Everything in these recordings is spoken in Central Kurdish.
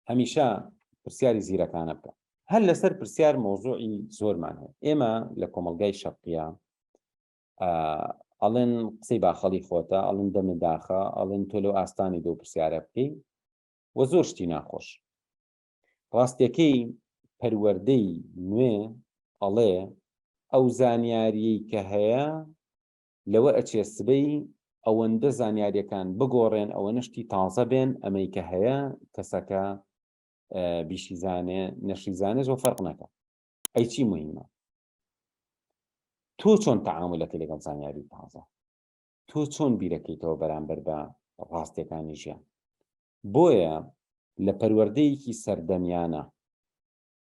هەمیشە پرسیاری زیرەکانە بکە هەر لەسەر پرسیار مۆزوعی زۆرمان هەیە ئێمە لە کۆمەلگای شەقیە ئەڵێن قسەی باخەڵی خۆتە ئەڵن دەمە داخە ئەڵێن تۆ لەو ئاستانی دو پرسیارە بکەی وە زۆر شتی ناخۆش ڕاستەکەی پەروەەردەی نوێ ئەڵێ ئەو زانیاریی کە هەیە لەوە ئەچێ سبەی ئەوەندە زانیاریەکان بگۆڕێن ئەوەنە شتی تازە بێن ئەمەی کە هەیە کەسەکە بیشیزانێ نەشیزانێ زۆ فەرق نەکە ئەی چی مهمە تۆ چۆن تەعاملەکە لەگەڵ زانیاری تازە تۆ چۆن بیرەکەیتەوە بەرامبەر بە ڕاستیەکانی ژیان بۆیە لە پەروەردەیەکی سەردەمیانە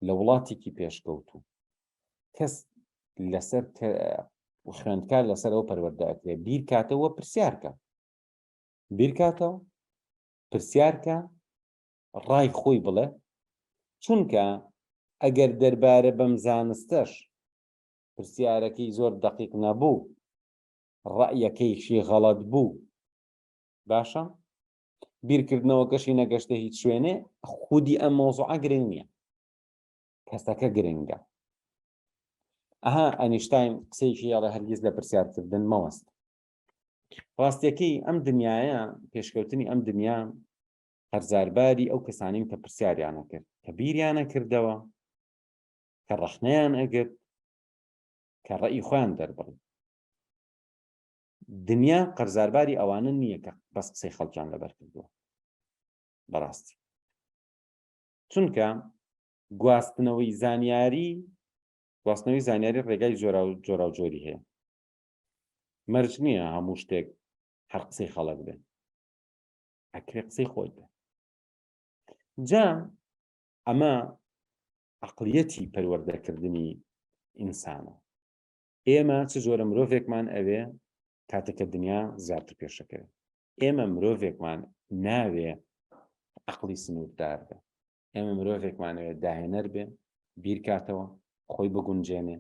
لە وڵاتێکی پێشکەوتوو کەس لەسەر خوێندکار لەسەر ئەو پەروەردەکرێ بیرکاتەوە پرسیارکە بیرکاتەوە پرسیارکە ڕای خۆی بڵێ چونکە ئەگەر دەربارە بەم زانستەش پرسیارەکەی زۆر دقیق نەبوو ڕەعیەکەیشی غەڵت بوو باشە بیرکردنەوەکەشی نەگەشتە هیچ شوێنێ خودی ئەم مۆزوعە گرنگ نییە کەسەکە گرنگە ئەها ئەنیشتین قسەیەکی یاڵە هەرگیز لە پرسیارکردن مەوەست ڕاستەکەی ئەم دنیاە پێشکەوتنی ئەم دنیا هەرزارباری ئەو کەسانین کە پرسیاریانە کرد کە بیریانە کردەوە کە ڕەخنەیان ئەگرت کە ڕێی خۆیان دەربڕی دنیا قەرزارباری ئەوانە نییە کە بەس قسەی خەڵکیان لەبەر کردووە بەڕاستی چونکە گواستنەوەی زانیاری گواستنەوەی زانیاری ڕێگای جۆرا و جۆرا و جۆری هەیە مەرج نییە هەموو شتێک هەر قسەی خەڵک بێت ئەکرێ قسەی خۆت بێت جا ئەمە عقلیەتی پەروەردەکردنی ئینسانە ئێمە چ جۆرە مرۆڤێکمان ئەوێ کاتێک کە دنیا زیاتر پێشەکەوێ ئێمە مرۆڤێکمان ناوێ عقلی سنووردار بێ ئێمە مرۆڤێکمانەوێ داهێنەر بێ بیرکاتەوە خۆی بگونجێنێ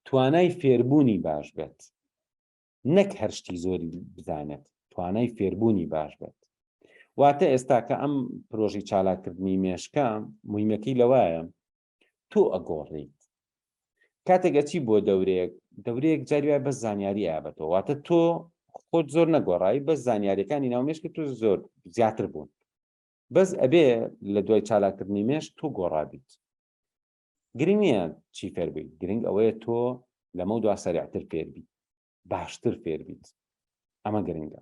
توانای فێربوونی باش بێت نەک هەرشتی زۆری بزانێت توانای فێربوونی باش بێت واتە ئێستا کە ئەم پرۆژی چالاکردنی مێشکە مهمەکەی لەوایە تۆ ئەگۆڕیت کاتێک ئەچی بۆ دەورێک دەورەیەک جاری وای بە زانیاری ئابەتەوە واتە تۆ خۆت زۆر نەگۆڕایی بە زانیاریەکانی ناو مێشکە تۆ زۆر زیاتر بوون بەس ئەبێ لە دوای چالاکردنی مێش تۆ گۆڕابیت گرنگ نییە چی فێربیت گرنگ ئەوەیە تۆ لەمە دوا سەرعتر فێربیت باشتر فێربیت ئەمە گرنگە